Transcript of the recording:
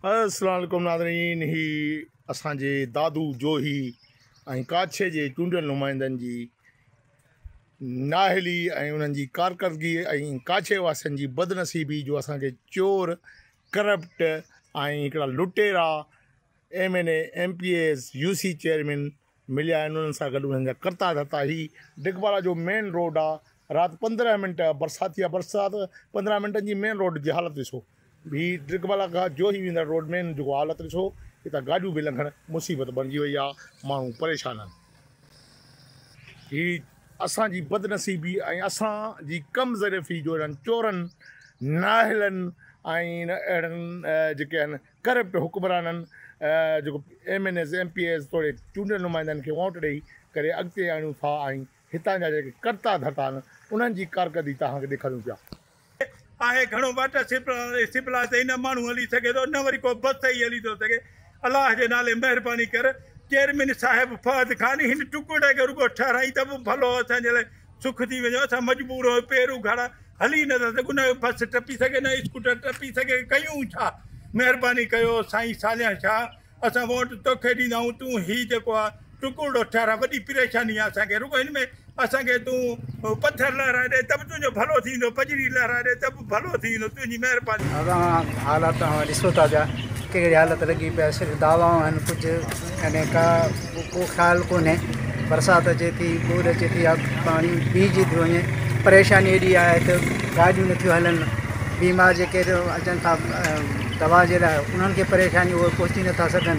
السلام عليڪم ناظرين هي اسان جي دادو جوهي ۽ ڪاڇي جي چونڊيل نمائندن جي ناهلي ۽ انهن جي ڪارڪردگي ۽ ڪاڇي واسين جي بدنصيبي جو اسان کي چور ڪرپٽ ۽ هڪڙا لٽيرا M N A M P As U C chairman مليا آهن انهن سان گڏ انهن جا ڪرتا ڌرتا هي ڊگبالا جو مين روڊ آ رات پندرهن منٽ برساتي آ برسات پندرهن منٽن جي مين روڊ جي حالت ڏسو هي ڊگبالا کان جوهي ويندڙ روڊ مين جيڪو حالت ڏسو هتان گاڏيون به لنگهڻ مصيبت بڻجي وئي آ ماڻهو پريشان آهن هي اسان جي بدنصيبي ۽ اسان جي ڪم ظرفي جو انهن چورن ناهلن ۽ اهڙن جيڪي آهن ڪرپٽ حڪمرانن جيڪو M N As, M P As توڙي چونڊيل نمائندن کي ووٽ ڏئي ڪري اڳتي آڻيون ٿا ۽ هتان جا جيڪي ڪرتا ڌرتا آهن انهن جي ڪارڪردگي توهان کي ڏيکاريون پيا. آهي گهڻو واٽر سپلاء تي ئي نه ماڻهو هلي سگهي ٿو نه وري ڪو بس تي ئي هلي ٿو سگهي الله جي نالي مهرباني ڪر چيئرمين صاحب فهد خان هن ٽڪڙي کي رڳو ٺهرائين ته به ڀلو اسان جي لاء سک ٿي ويندو اسان مجبور هو پير اگهاڙا هلي نه ٿا سگهون نه بس ٽپي سگهي نه اسڪوٽر ٽپي سگهي ڪيون ڇا مهرباني ڪيو سائين صالح شاهه اسان ووٽ توکي ڏيندا آهيون تون هي جيڪو آ ٽڪوڙو ٺهرا وڏي پريشاني آ اسان کي رڳو هن ۾ اسان کي تون پٿر لهرائي ڏي ته به تنهنجو ڀلو ٿيندو پڄڙي لهرائي ڏي ته ڀلو ٿيندو تنهنجي مهرباني. اوهان حالات اوهان ڏسو ٿا پيا ڪهڙي حالت لڳي پئي آهي صرف دعوائون آهن ڪجهه يعني ڪا ڪو خيال ڪونهي برسات اچي ٿي ٻوڏ اچي ٿي يا پاڻي بيهجي ٿو وڃي پريشاني ايڏي آهي ته گاڏيون نٿيون هلن بيمار جيڪي اچن ٿا دوا جي لاء انهن کي پريشاني اهي پهچي نٿا سگهن